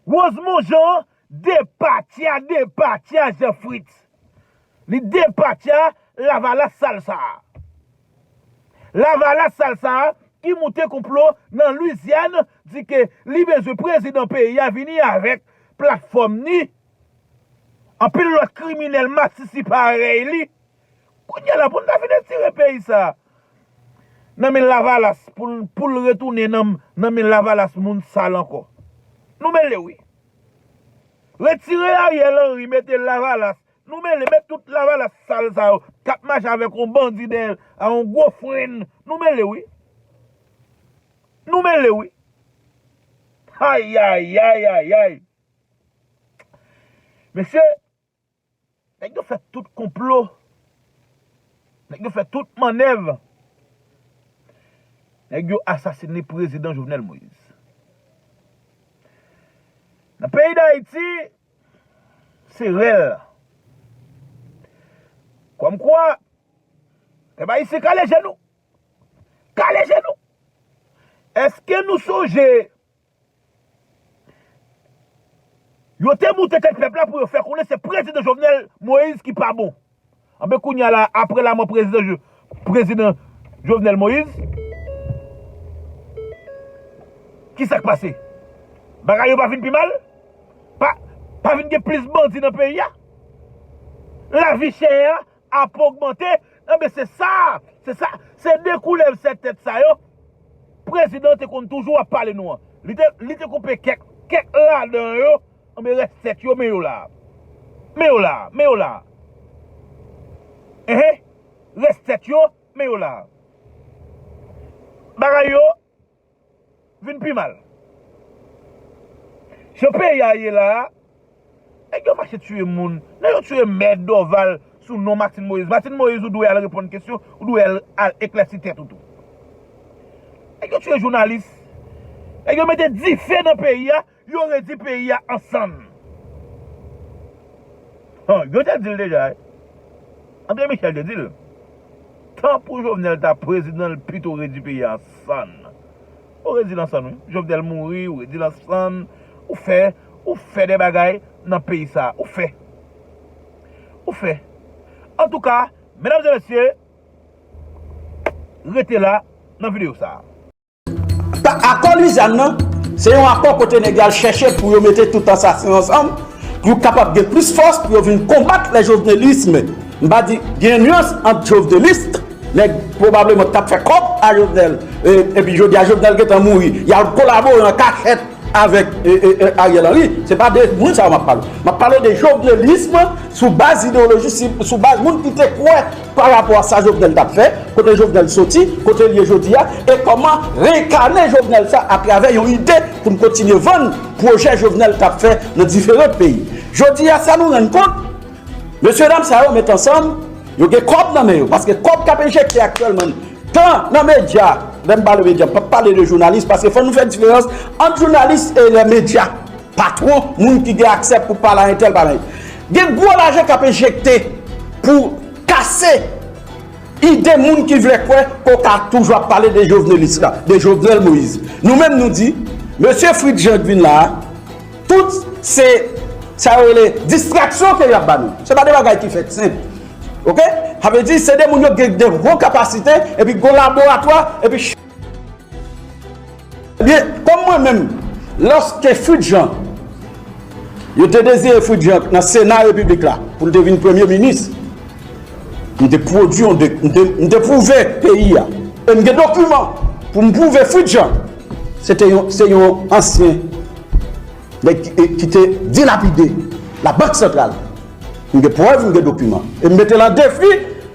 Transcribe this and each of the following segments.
Rosemond Jean depatya depatya Jean Fritz li depatya lavalas sal sa a lavalas sal sa a ki moute konplo nan Lwizyàn di ke li bezwen prezidan peyi a vini avèk platfòm ni anpil lòt kriminèl masisi parèy li Kounya la poun ta fin etire peyi sa nan men lavalas poul retounen nan men lavalas moun sal ankò nou mele wi retire ariel henry mete lavalas nou mele met tout lavalas sal sa yo kap mache avek yon bandi dèyèl a yon gwo frenn nou mele wi nou mele wi hayayayayay mesye Nèg yo fè tout konplo, nèg yo fè tout mannèv, nèg yo asasine prezidan Jovenel Moïse. Nan peyi Dayiti, se rèl. Kòm kwa, pèp ayisyen kale je nou, kale je nou. Eske nou sonje Yo te moute tèt pèp la pou yo fè konnen se prezidan Jovenel Moïse ki pa bon. Anben kounye a la a, apre lamò prezidan Jovenel Moïse, ki sa k pase? Bagay yo pa vin pi mal? Pa vin gen plis bandi nan peyi a? Lavi chè a? ap ogmante, enben se sa, se sa, se de koulèv sèt tèt sa yo prezidan te konn toujou ap pale nou an. Li te, li te koupe kèk, kèk ladan yo, enben rès sèt yo men yo la a. Men yo la a, men yo la a. Enhen, rès sèt yo, men yo la a. Bagay yo, Vin pi mal. Jan peyi a ye la a, nèg yo mache tiye moun. Nèg yo tiye mè Dòval sou non Matin Moyiz. Matin Moyiz ou dwe al reponn kesyon, ou dwe al eklèsi tèt ou tou. Nèg yo tiye jounalis. Nèg yo mete dife nan peyi a Yo redi peyi a ansann. Hum yo te dil deja wi. Andre Michel te dil. Tan pou Jovenel ta prezidan l pito redi peyi a ansann. Ou redil ansann wi. Jovenel mouri ou redil ansann. Ou fè ou fè de bagay nan peyi sa. Ou fè. Ou fè. Antouka medam e mesye rete la nan video sa. Akò Lwizyann nan, se yon akò kote nèg yo al chèche pou yo mete tout ansasen ansanm, pou yo kapab gen plis fòs pou yo vin konbat le jovenelisme. M pa di, gen yon nuans ant joveneliste, nèg pwobableman k ap fè kòb a Jovenel, epi jodi a Jovenel gentan mouri, y al kolabore an kachèt avèk Ariel Henry, se pa de moun sa yo m ap pale. M ap pale de jovenelisme sou baz ideyoloji, sou baz moun ki te kwè pa rapò a sa Jovenel t ap fè, kote Jovenel soti, kote l ye jodi a, e kòman reenkane Jovenel sa atravè yon ide pou n kontinye vann pwojè Jovenel t ap fè nan diferan peyi. Jodi a, sa nou rann kont, mesyedam sa yo met ansanm, yo gen kòb nan men yo, paske kòb k ap enjekte aktyèlman tan nan medya, lè m pale medya, m p ap pale de jounalis, paske fò nou fè diferans ant jounalis e lè medya. Patwon, moun ki gen aksè pou pale a entèl pale a entèl. Gen gwo lajan k ap enjekte pou kase ide moun ki vle kwè ke w ka toujou ap pale de Jovenelis la, de Jovenel Moïse. Nou menm nou di, mesye Fritz Jean k vin la a, tout se sa yo rele distraksyon ke y ap ba nou. Se pa de bagay ki fèt senp. Ok? Sa vle di se de moun yo gen de gwo kapasite epi gwo laboratwa epi. Ebyen, kòm mwen menm, lòske Fritz Jean, yo te deziye Fritz Jean nan Sena Repiblik la pou l te vin Premye Minis, m te pwodui yon, m te pwouve peyi a, e m gen dokiman pou m pwouve Fritz Jean se te yon, se yon ansyen nèg ki te dilapide Labank Santral. M gen prèv, m gen dokiman. E m mete l an defi.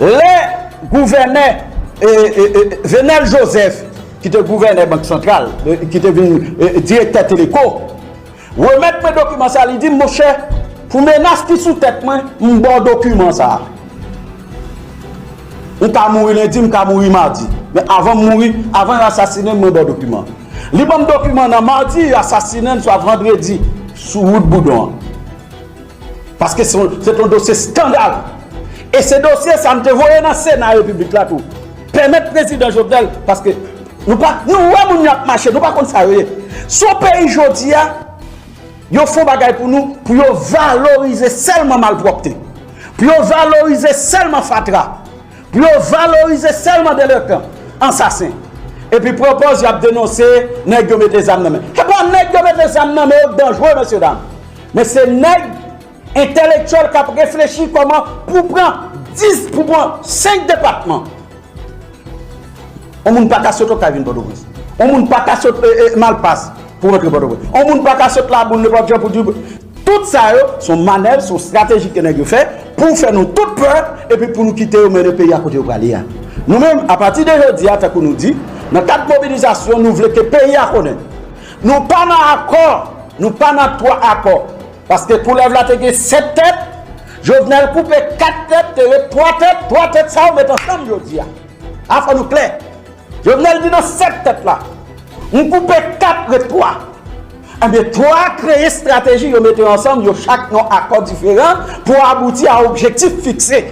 Lè gouvènè Venel Joseph ki te gouvènè bank santral, ki te vin direktè Teleco, remèt mwen dokiman sa, li di m, monchè, pou menas ki sou tèt mwen, m ba w dokiman sa. Ou ka mouri lendi, m ka mouri madi. Men avan m mouri, avan yo asasinen m, mwen ba w dokiman. Li ban m dokiman nan madi, yo asasinen m swa vandredi sou wout Boudon an. Paske se ton dosye skandal. E se dosye sa m te voye nan sena repiblik la tou. Pèmèt prezidan Jovenel paske nou pa nou wè moun yo ap mache nou pa konn sa yo ye. Son peyi jodi a yo fon bagay pou nou pou yo valorize sèlman malpwòpte. Pou yo valorize sèlman fatra. Pou yo valorize sèlman delenkan, ansasen. Epi pwopòz y ap denonse nèg yo mete zam nan men. Epa nèg yo mete zam nan men yo danjre mesye dam. Men se nèg entèlektyèl k ap reflechi kòman pou pran 10, pou pran 5 depatman. On moun pa ka sot Okay vin Pòtoprens. On moun pa ka sot Malpas pou rantre Pòtoprens. On moun pa ka sot Laboul, Lepòt Jan pou di. Tout sa yo s on manèv, s on estrateji ke nèg yo fè pou fè nou tout pè epi pou nou kite yo mennen peyi a kote yo prale a. Nou menm, apati de jodi a, tankou nou di, nan kad mobilizasyon nou vle ke peyi a konnen. Nou pa nan akò, nou pa nan 3 akò. Paske koulèv la te gen 7 tèt, Jovenel koupe 4 tèt, te ret 3 tèt, 3 tèt sa yo met ansanm jodi a. A fò nou klè. Jovenel di nan 7 tèt la, m koupe 4 ret 3. Ebyen 3 a kreye strateji yo mete ansanm yo chak nan akò diferan pou abouti a objektif fikse.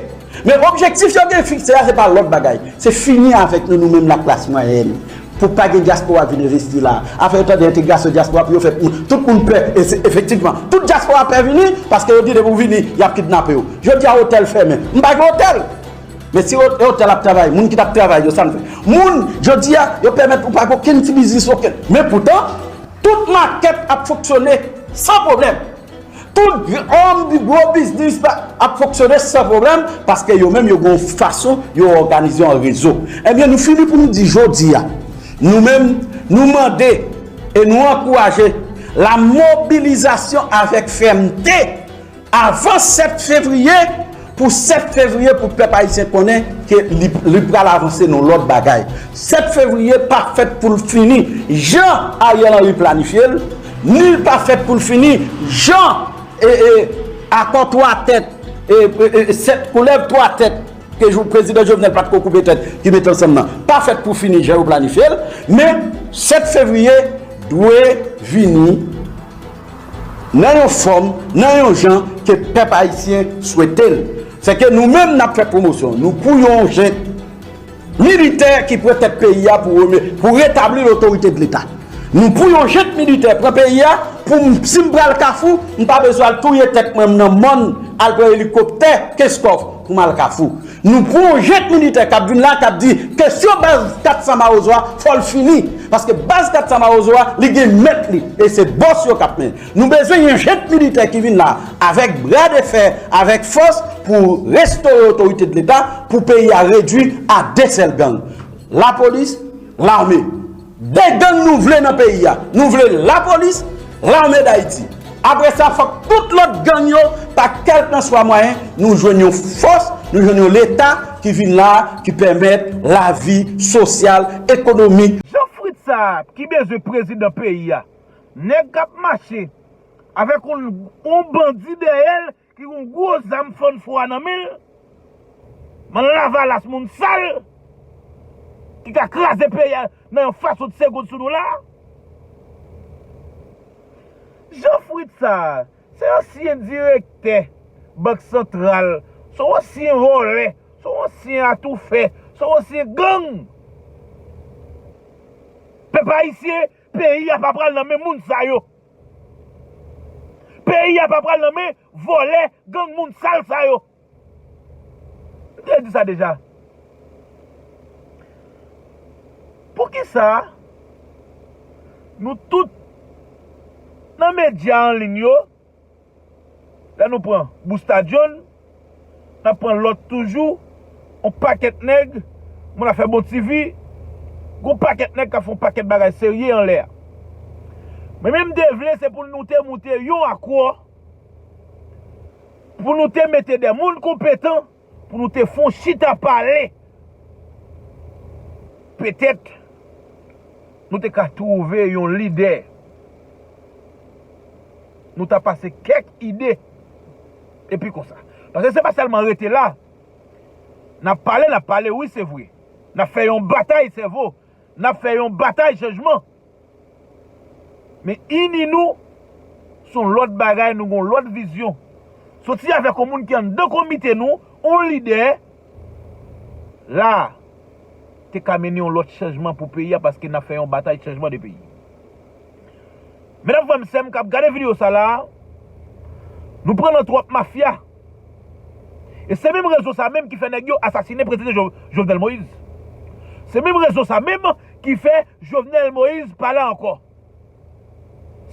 Men objektif yo gen fikse a se pa lòt bagay, se fini avèk nou nou menm laklas mwayèn, pou pa gen dyaspora vin envesti la. Afè yo tande entegrasyon dyaspora pou yo fè moun, tout moun pè, e se efektivman, tout dyaspora pè vini, paske yo di depi ou vini, y ap kidnape ou. Jodi a otèl fèmen, m pa gen otèl! Men si otèl ap travay, moun ki t ap travay yo, sa n fè? Moun, jodi a, yo pèmèt ou pa gen okenn ti biznis, okenn. Men poutan, tout makèt ap fonksyone san pwoblèm. Tout granm di gwo biznis la ap fonksyone san pwoblèm paske yo menm yo gen yon fason yo òganize an rezo. Ebyen nou fini pou nou di jodi a, nou menm nou mande e nou ankouraje la mobilizasyon avèk fèmte avan 7 fevriye, Pou 7 fevriye pou pèp ayisyen konnen ke li pral avanse nan lòt bagay. 7 fevriye pa fèt pou l fini jan Ariel Henry planifye l, ni l pa fèt pou l fini jan akò 3 tèt, 7 koulèv 3 tèt ke prezidan Jovenel pa t ko koupe tèt ki mete ansanm nan, pa fèt pou fini jan yo planifye l, men 7 fevriye dwe vini Nan yon fòm, nan yon jan ke pèp ayisyen swete l. Sè ke nou menm n ap fè pwomosyon nou pou yon jent militè ki pran tèt peyi a pou retabli lotorite de leta. Nou pou yon jent militè pran peyi a pou m, si m pral Kafou, m pa bezwen al touye tèt mwen m nan mòn, al pran elikoptè Kenskòf pou m al Kafou. Nou pran yon jent militè kap vin la kap di kesyon baz 400 mawozo a fòl fini paske baz 400 mawozo a li gen mèt li e se bòs yo kap men nou bezwen yon jent militè ki vin la avèk bra de fè avèk fòs pou restore otorite de leta pou peyi a redwi a de sèl gang lapolis lame. De gang nou vle nan peyi a. Nou vle lapolis, lame dayiti. Apre sa fòk tout lòt gang yo pa kèlkanswa mwayen nou jwenn yon fòs, nou jwenn yon leta ki vin la a ki pèmèt lavi sosyal, ekonomik. Jan frit sa a ki bezwen prezidan peyi a. Nèg kap mache avèk yon bandi dèyèl Ki gon gwo zam fann fwa nan men l. M'en lavalas moun sal. Ki ka kraze peyi a nan yon fason de segond sou nou la a. Jean Fritz sa a, se ansyen direktè bank santral, son ansyen vòlè, son ansyen atoufè, son ansyen gang. Pèp ayisyen. Peyi a pa pral nan men moun sa yo. Peyi a pa pral nan men vòlè, gang moun sal sa yo. M te di sa deja. Pou ki sa nou tout nan medya anliy yo Lè nou pran Boustadyon, n ap pran lòt toujou, yon pakèt nèg, moun ap fè bon ti vi, gen yon pakèt nèg k ap fè yon pakèt bagay serye anlè a. Mwen menm m te vle se pou nou te moute yon akò, pou nou te mete de moun konpetan Pou nou te fon chita pale. Petèt nou te ka twouve yon lidè. Nou ta pase kèk ide. Epi konsa. Paske se pa sèlman rete la. Nap pale nap pale wi se vre. Nap fè yon batay sèvo. N ap fè yon batay chanjman. Men ini nou s on lòt bagay, nou gen yon lòt vizyon. Soti avèk yon moun ki anndan komite nou, yon lidè, la a, te ka mennen yon lòt chanjman pou peyi a paske n ap fè yon batay chanjman de peyi. Medam frè m sè m k ap gade videyo sa la a, nou pran nan twòp mafya. E se menm rezo sa menm ki fè nèg yo asasine prezidan Jovenel Moïse. Se menm rezo sa menm ki fè Jovenel Moïse pa la ankò.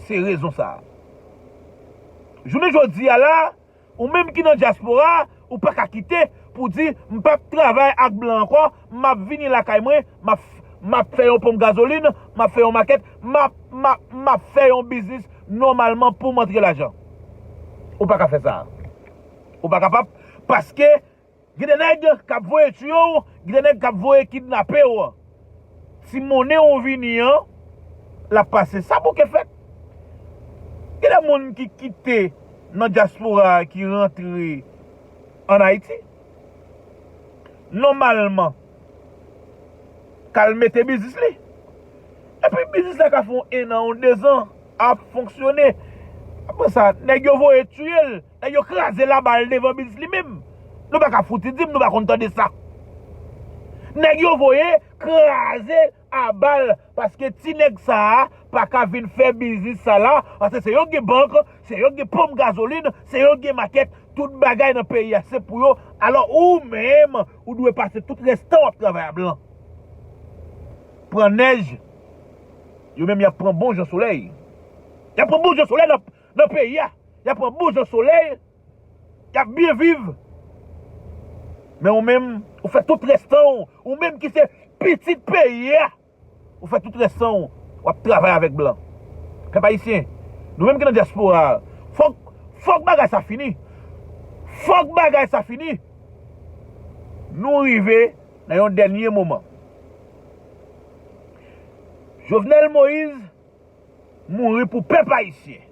Se rezon sa. Jounen jodi a la, ou menm ki nan dyaspora, ou pa ka kite pou di m pap travay ak blan ankò, Map vini lakay mwen, map map fè yon ponp gazolin, map fè yon makèt, map map map fè yon biznis nòmalman poum antre lajan. Ou paka fè sa. Ou pa kapab paske gen de nèg kap voye tiye w, gen de nèg kap voye kidnape w. Ti monnen ou vini an lap pase. Sa bouke fèt. Gen de moun ki kite nan dyaspora ki rantre an Ayiti. nòmalman k al mete biznis li. Epi biznis la ka fè yon ennan, yon dezan ap fonksyone. Apre sa, nèg yo voye tiye l, nèg yo kraze laba l devan biznis li menm. Nou pa ka fouti di m nou pa konn tande sa. Nèg yo voye kraze abal paske ti nèg sa a paka vin fè biznis sa la paske se yo ki gen bank se yo ki gen ponp gazolin se yo ki gen makèt tout bagay nan peyi a se pou yo alò ou menm ou dwe pase tout rès tan w ap travay a blan pran nèj yo menm y ap pran bon jan solèy y ap pran bon jan solèy nan peyi a y ap pran bon jan solèy Yap byen viv men ou menm ou fè tout rès tan w ou menm ki se pitit peyi a ou fè tout rès tan w wap travay avèk blan pèp ayisyen nou menm ki nan dyaspora fòk fòk bagay sa fini fòk bagay sa fini nou rive nan yon dènye moman Jovenel Moïse. mouri pou pèp ayisyen.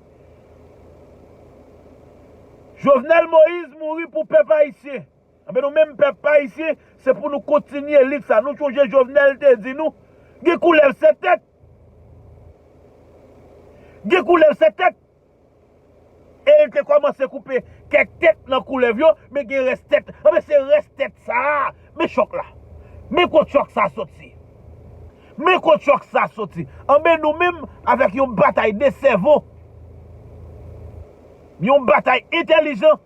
Jovenel Moïse mouri pou pèp ayisyen. Anben nou menm pèp ayisyen se pou nou kontinye lit sa. Nou sonje Jovenel te di nou gen koulèv 7 tèt. Gen koulèv 7 tèt. E l te kòmanse koupe kèk tèt nan koulèv yo, men gen rès tèt. Anben, se rès tèt sa a, men chòk la. Men kot chòk sa soti. Men kot chòk sa soti. Anben, nou menm, avèk yon batay de sèvo, yon batay entèlijan.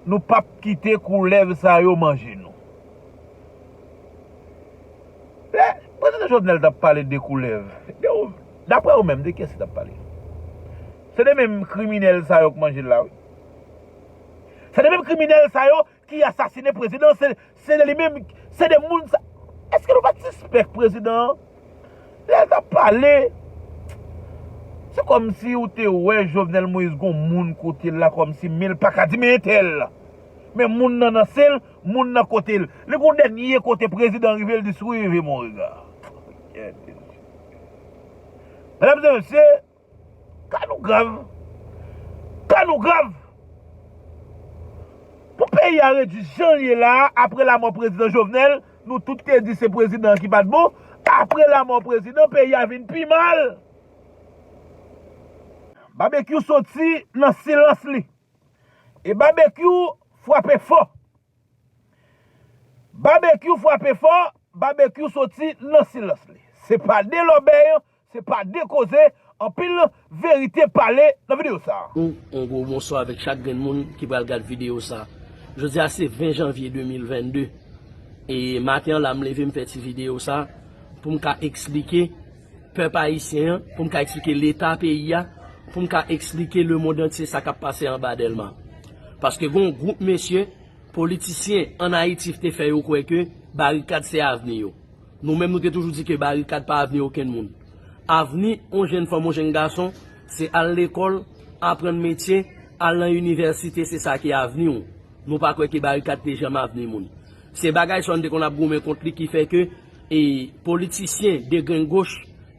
Nou pap kite koulèv sa yo manje nou. Lè Prezidan Jovenel t ap pale de koulèv, daprè ou menm, de kiyès li t ap pale? Se de menm kriminèl sa yo k manje l la wi. Se de menm kriminèl sa yo ki asasine prezidan an se de li menm se de moun sa eske nou pat sispèk prezidan an lè l tap pale se kòmsi ou te wè Jovenel Moïse gon moun kote l la kòmsi men l paka di men entèl men moun nan nan sen l moun nan kote l li gon dènye kote prezidan rive l di suivez mon regard mèdam e mesye. Ka nou grav! Ka nou grav! Pou peyi a redi jan l ye la a apre lamò prezidan Jovenel, nou tout te di se prezidan an ki pa t bon, apre lamò prezidan peyi a vin pi mal! Babekyou soti nan silans li. E Babekyou frape fò. Babekyou frape fò, Babekyou soti nan silans li. Se pa de lòbèy Se pa de koze anpil verite pale nan video sa. Yon gwo bonswa avèk chak grenn moun ki pral gad video sa. Jodi a se 20 janvye 2022 e maten an la m leve m fè ti video sa pou m ka eksplike pèp ayisyen an, pou m ka eksplike leta peyi a, pou m ka eksplike lemond antye sa k ap pase anba Dèlma. Paske gen yon gwoup mesye politisyen an Ayiti te fè yo kwè ke barikad se avni yo. Nou menm nou te toujou di ke barikad pa avni okenn moun. Avni on jenn fanm, on jenn gason, se al lekòl, aprann metye, al nan inivèsite se sa ki avni ou. Nou pa kwè ke barikad te janm avni moun. Se bagay sa nou te konn ap goumen kont li ki fè ke e politisyen degrengoch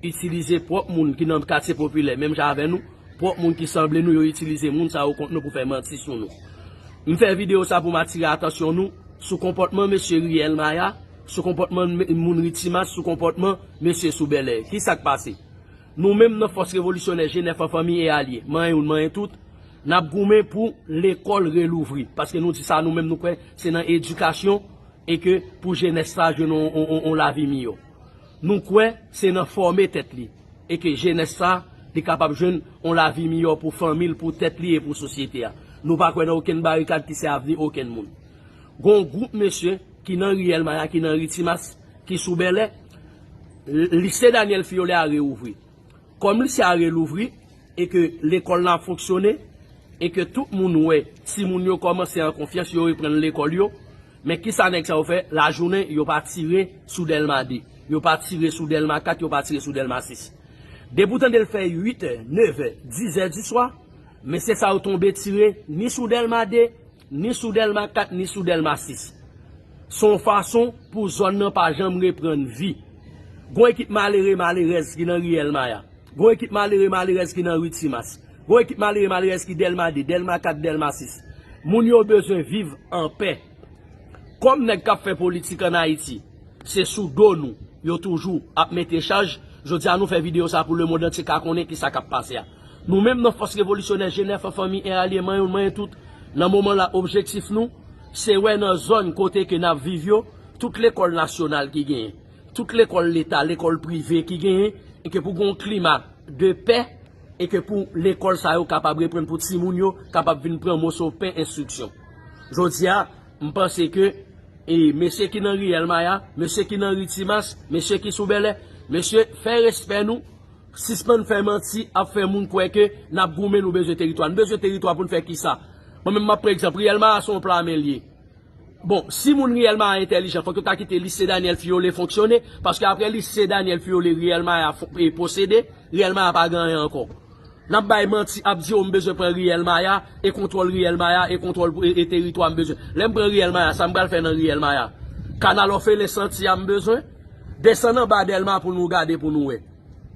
itilize pwòp moun ki nan katye popilè menm jan avè nou, pwòp moun ki sanble nou yo itilize moun sa yo kont nou pou fè manti sou nou. M fè videyo sa pou m atire atansyon nou sou konpòtman mesye Riyèl Maya Sou konpòtman moun Ritimas sou konpòtman mesye sou Bèlè. Ki sa k pase? Nou menm nan Fòs Revolisyonè Jenèf an Fanmi e Alye, manyen youn manyen tout, n ap goumen pou lekòl relouvri. Paske nou di sa nou menm nou kwè se nan edikasyon e ke pou jenès sa jwenn yon lavi miyò. Nou kwè se nan fòme tèt li e ke jenès sa li kapab jwenn yon lavi miyò pou fanmi l, pou tèt li e pou sosyete a. Nou pa kwè nan okenn barikad ki se avni okenn moun. Gon w gwoup mesye ki nan riyèl maya ki nan ri timas ki sou bèlè lise danyèl fiyole a re ouvri kòm lise a re louvri e ke lekòl nan ap fonksyone e ke tout moun wè timoun yo kòmanse an konfyans yo reprann lekòl yo men kisa nèg sa yo fè lajounen yo pa tire sou dèlma 2 yo pa tire sou dèlma 4 yo pa tire sou dèlma 6 depi w tande l fè 8 è 9 è 10 è diswa mesye sa yo tonbe tire ni sou dèlma 2 Ni sou Dèlma 4 ni sou Dèlma 6. Se yon fason pou zòn nan pa janm reprann vi. Gon ekip malere malerèz ki nan Riyèl Maya. Gon ekip malere malerèz ki nan Ri Timas. Gon ekip malere malerèz ki Dèlma 2, Dèlma 4, Dèlma 6. Moun yo bezwen viv anpè. Kòm nèg k ap fè politik ann Ayiti, se sou do nou yo toujou ap mete chaj, jodi a nou fè videyo sa pou lemond antye ka konnen ki sa k ap pase a. Nou menm nan Fòs Revolisyonè Jenèf an fanmi en alye man youn man youn tout nan moman la objektif nou se wè nan zòn kote ke nap viv yo tout lekòl nasyonal ki genyen tout lekòl leta lekòl prive ki genyen e ke pou gon klima de pè e ke pou lekòl sa yo kapab reprann pou ti moun yo kapab vin pran moso pen enstriksyon jodi a m panse ke e mesye ki nan riyèl maya mesye ki nan ri timas mesye ki sou bèlè mesye fè respè nou. Sispann fè manti ap fè moun kwè ke nap goumen nou bezwen teritwa. Nou bezwen teritwa poun fè kisa? Mwen menm map pran egzanp, Riyèl Maya se yon pla a men li ye. Bon, si moun Riyèl Maya entèlijan fòk yo ta kite Lise Daniel Fiyole fonksyone, paske aprè Lise Daniel Fiyole Riyèl Maya posede, Riyèl Maya pa gen anyen ankò. Nap bay manti ap di o m bezwen pran Riyèl Maya e kontwòl Riyèl Maya e kontwòl e teritwa m bezwen. Lè m pran Riyèl Maya sa m pral fè nan Riyèl Maya? Kanal òfelen santi a m bezwen? Desann anba Dèlma pou nou gade pou nou wè.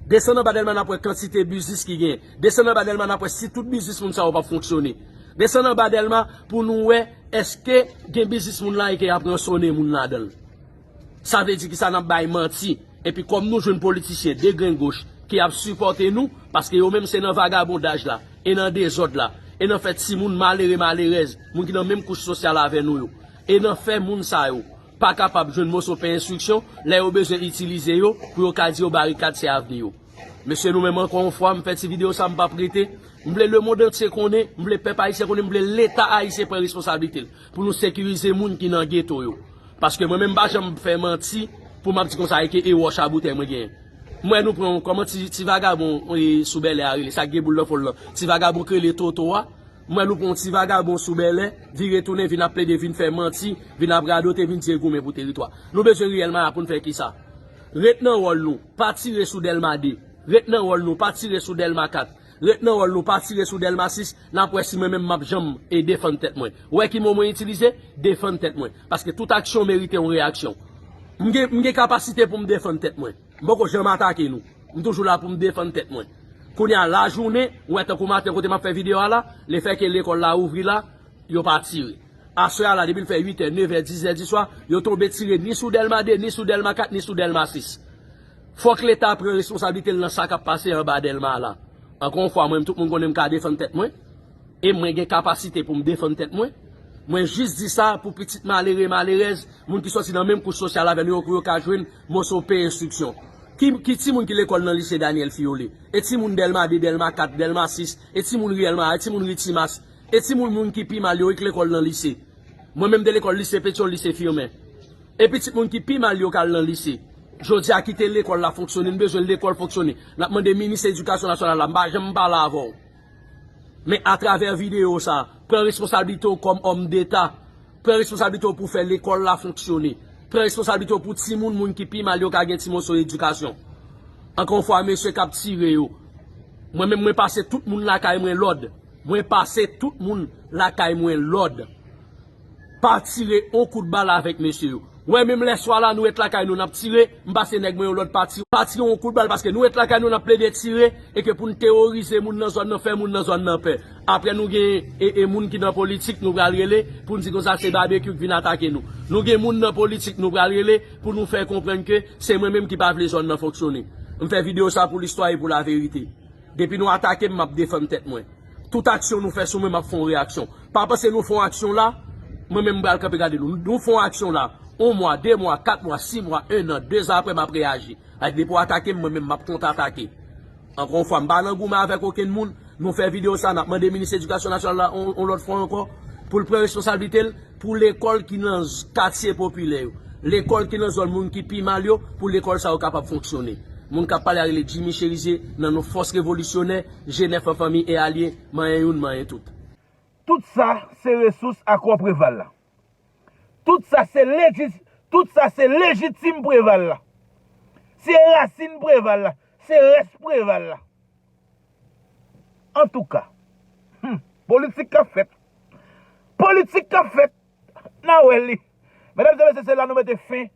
Desann anba Dèlma nap wè kantite biznis ki genyen. Desann anba Dèlma nap wè si tout biznis moun sa yo pap fonksyone. Desann anba Dèlma pou nou wè eske gen biznis moun la e ke yap ransone moun ladan l. Sa vle di ki sa nap bay manti. Epi kòm nou jwenn politisyen de grenn goch ki ap sipòte nou paske yo menm se nan vagabondaj la e nan dezòd la e nan fè timoun malere malerèz moun ki nan menm kouch sosyal avè nou yo e nan fè moun sa yo pa kapab jwenn moso pen enstriksyon lè yo bezwen itilize yo pou yo ka di yo barikad se avni yo. Mesye nou menm ankò yon fwa m fè ti videyo sa m pap rete, m vle lemond antye konnen, m vle pèp ayisyen konnen, m vle leta ayisyen pran responsablite l pou nou sekirize moun ki nan geto yo. Paske mwen menm m pa janm fè manti pou m ap di konsa eke e wòch a boutèy mwen genyen. M wè nou pran yon kòman ti vagabon sou Bèlè a rele sa k gen boul nan fon l lan, ti vagabon k rele Toto a, M wè l ou pran yon ti vagabon sou Bèlè, vire tounen vin ap plede vin fè manti, vin ap radote, vin di e goumen pou teritwa. Nou bezwen riyèl maya pou n fè kisa? Ret nan wòl nou, pa tire sou Dèlma 2. Ret nan wòl nou, pa tire sou Dèlma 4. Ret nan wòl nou, pa tire sou Dèlma 6. N ap wè si mwen menm m ap janm e defann tèt mwen. Ou wè ki mo mwen itilize? Defann tèt mwen. Paske tout aksyon merite yon reyaksyon. M gen, m gen kapasite pou m defann tèt mwen. M poko janm atake nou. M toujou la pou m defann tèt mwen. Kounye a lajounen, ou wè tankou maten kote m ap fè videyo a la, le fè ke lekòl la ouvri la, yo pa tire. Aswè a la depi l fè uitè, nevè, dizè diswa, yo tonbe tire ni sou Dèlma 2, ni sou Dèlma 4, ni sou Dèlma 6. Fòk Leta pran responsablite l nan sa k ap pase anba Dèlma a la. Ankò yon fwa, mwen menm tout moun konnen m ka defann tèt mwen. E mwen gen kapasite pou m defann tèt mwen. Mwen jis di sa pou pitit malere, malerèz, moun ki sòti nan menm kouch sosyal avè nou yo pou yo ka jwenn moso pen enstriksyon. Ki timoun ki lekòl nan lise Daniel Filleulé? E timoun Dèlma 2, Dèlma 4, Dèlma 6? E timoun ri Èlma a? E timoun ri Timas? E timoun moun ki pi mal yo? E k lekòl nan lise? Mwen menm m te lekòl lise Petyon, lise Firmin. E pitit moun ki pi mal yo k al nan lise? Jodi a kite lekòl la fonksyone, n bezwen lekòl fonksyone. N ap mande minis edikasyon nasyonal la, m pa janm pale avè w. Men atravè videyo sa, pran responsablite w kòm òm deta, pran responsablite w pou fè lekòl la fonksyone, pran responsablite w pou timoun moun ki pi mal yo ka gen ti moso edikasyon. Ankò yon fwa mesye k ap tire yo, mwen menm mwen pase tout moun lakay mwen lòd, mwen pase tout moun lakay mwen lòd. Pa tire on kout bal avèk mesye yo. Wè menm lè swa la nou ret lakay nou nap tire, m pase nèg mwen yon lòd pa tire, pa tire on kout bal paske nou ret lakay nou nap plede tire e ke pou n teworize moun nan zòn nan fè moun nan zòn nan pè. Aprè nou gen e e moun ki nan politik nou pral rele pou n di konsa se Babekyou k vin atake nou. Nou gen moun nan politik nou pral rele pou nou fè konprann ke se mwen menm ki pa vle zòn nan fonksyone. M fè videyo sa pou listwa e pou laverite. Depi nou atake m, m ap defann tèt mwen. Tout aksyon nou fè sou mwen, m ap fè yon reyaksyon. Pa panse nou fè yon aksyon la, mwen menm m pral kanpe gade nou. Nou fè yon aksyon la, yon mwa, de mwa, kat mwa, si mwa, ennan, dezan apre m ap reyaji. Like depi w atake m, mwen menm m ap kontratake. Ankò yon fwa, m pa nan goumen avèk okenn moun. Nou fè videyo sa, n ap mande minis edikasyon nasyonal la yon lòt fwa ankò pou l pran responsablite l. Pou lekòl ki nan katye popilè yo, lekòl ki nan zòn moun ki pi mal yo, pou lekòl sa yo kapab fonksyone. Moun k ap pale a rele Jimmy Cherizier nan non Fòs Revolisyonè, Jenèf an Fanmi e Alye, manyen youn, manyen tout. Tout sa se resous akò Preval la. Tout sa se tout sa se lejitim Preval la. Se rasin Preval la, se rès Preval la. Antouka. Hum. Politik kap fèt. Politik kap fèt. Na wè li. Medam e mesye se la nou mete fen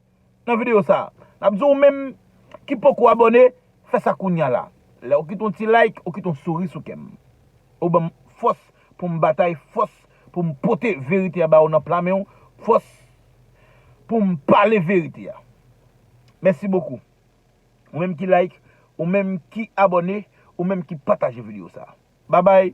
nan video sa. Nap di ou menm ki poko abone fè sa kounya la. Lèw kite yon ti like ou kite yon souri sou kèm. Ou banm fòs poum batay fòs poum pote verite a ba ou nan pla menw fòs poum pale verite a. Mèsi bokou. Ou menm ki like, ou menm ki abone, ou menm ki pataje video sa. Babay!